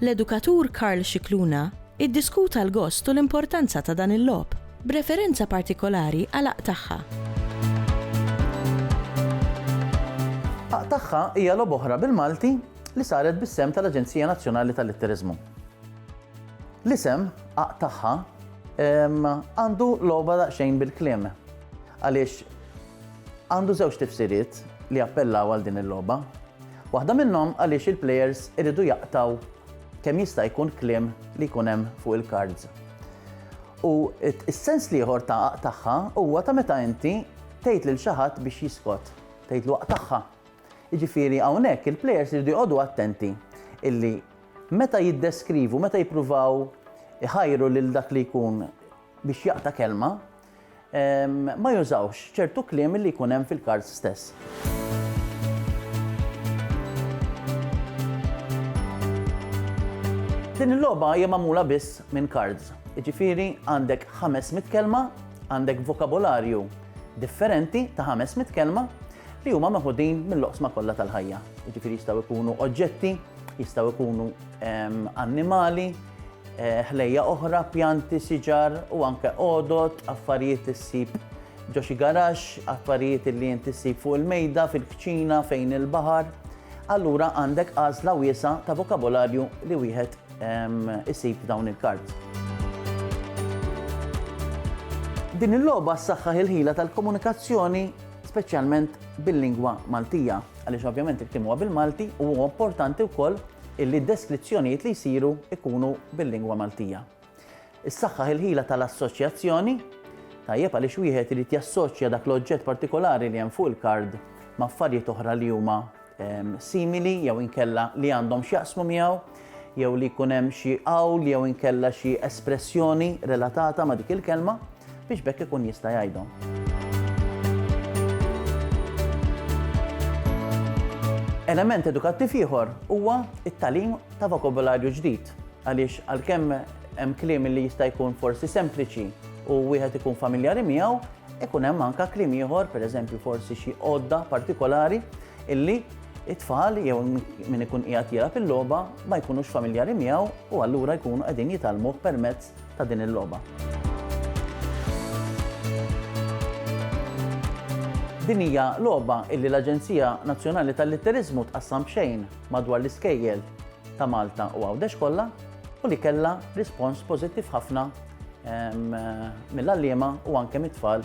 L-edukatur Karl Scicluna iddiskuta l-gost u l-importanza ta' dan il-logħob, b'referenza partikolari għal Aqtagħha. Aqtagħha hija logħba oħra bil-Malti li saret bis-sehem tal-Aġenzija Nazzjonali tal-Litteriżmu. L-isem, Aqtagħha, għandu logħba daqsxejn bil-kliem, għaliex għandu żewġ tifsiriet li jappellaw għal din il-logħba. Waħda minnhom għaliex il-plejers iridu jaqtgħu kemm jista' jkun kliem li jkun hemm fuq il-kards. U s-sens l-ieħor ta' aqtagħha huwa ta' meta inti tgħid lil xi ħadd biex jiskot, tgħidlu aqtagħha. Jiġifieri hawnhekk il-plejers iridu joqogħdu attenti illi meta jiddeskrivu, meta jippruvaw iħajru lil dak li jkun biex jaqta' kelma, ma jużawx ċertu kliem li jkun hemm fil-kards stess. Din il-logħba hija magħmula biss minn kards. Jiġifieri għandek 500 kelma, għandek vokabolarju differenti ta' 500 kelma li huma meħudin mill-oqsma kollha tal-ħajja. Jiġifieri jistgħu jkunu oġġetti, jistgħu jkunu annimali, ħlejja oħra, pjanti, siġar u anke għodod, affarijiet issib ġo xi garax, affarijiet li inti ssib fuq il-mejda, fil-kċina, fejn il-baħar. Allura għandek għażla wiesa ta' vokabolarju li wieħed isib dawn il-kards. Din il-logħba ssaħħaħ il-ħila tal-komunikazzjoni speċjalment bil-lingwa Maltija, għaliex ovvjament il-klim huwa bil-Malti u huwa importanti wkoll illi d-deskrizzjonijiet li jsiru jkunu bil-lingwa Maltija. Issaħħaħ il-ħila tal-assoċjazzjoni, tajjeb għaliex wieħed irid jassoċja dak l-oġġett partikolari li hemm fuq il-kard ma' affarijiet oħra li huma ehm, simili jew inkella li għandhom x'jaqsmu miegħu jew li jkun hemm xi qawl jew inkella xi espressjoni relatata ma' dik il-kelma. biex b'hekk ikun jista' jgħidhom. Element edukattiv ieħor huwa it-talim ta' vokabularju ġdid għaliex għalkemm hemm kliem li jista' jkun forsi sempliċi u wieħed ikun familjari miegħu, ikun hemm anke kliem ieħor, pereżempju forsi xi għodda partikolari illi it-tfal jew min ikun qiegħed jilgħab il-logħba ma jkunux familjari miegħu u allura jkunu qegħdin jitalmuh permezz ta' din il-logħba. Din hija logħba illi l-Aġenzija Nazzjonali tal-Litteriżmu tqassam b'xejn madwar l-iskejjel ta' Malta u Għawdex kollha u li kellha rispons pożittiv ħafna ehm, mill-għalliema u anke mit-tfal